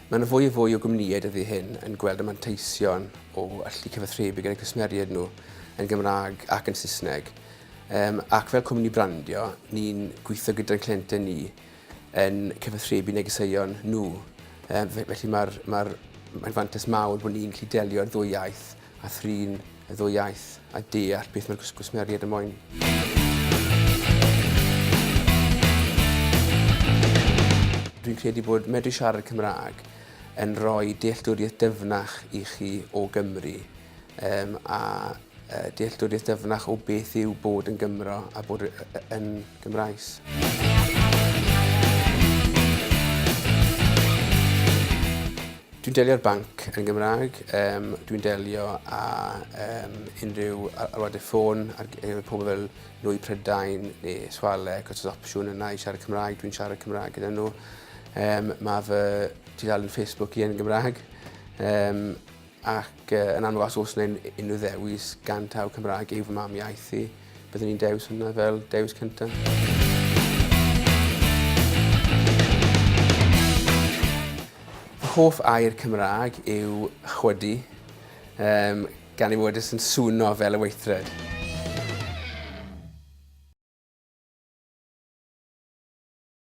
Mae yna fwy a fwy o gwmnïau dyddi hyn yn gweld y manteision o allu cyfathrebu gyda'i cwsmeriaid nhw yn Gymraeg ac yn Saesneg. Um, ac fel cwmni brandio, ni'n gweithio gyda'n clientau ni yn cyfathrebu negeseuon nhw. Um, felly mae'r mae ma fantais mawr bod ni'n gallu delio'r ddwy iaith a thrin y ddwy iaith a deall beth mae'r gwsmeriaid yn moyn. dwi'n credu bod medru siarad Cymraeg yn rhoi dealltwriaeth dyfnach i chi o Gymru um, a uh, dealltwriaeth dyfnach o beth yw bod yn Gymro a bod yn Gymraes. Dwi'n delio'r banc yn Gymraeg, um, dwi'n delio â um, unrhyw alwadau ffôn ar gyfer pobl fel Nwy Prydain neu Swale, cos oes opsiwn yna i siarad Cymraeg, dwi'n siarad Cymraeg gyda nhw. Um, mae fy tudalen Facebook i yn Gymraeg. Um, Ac yn amlwg os oes 'na unrhyw ddewis gan taw Cymraeg yw fy mam iaith i, byddwn i'n dewis hwnna fel dewis cyntaf. hoff air Cymraeg yw chwydu, um, gan ei fod yn swno fel y weithred.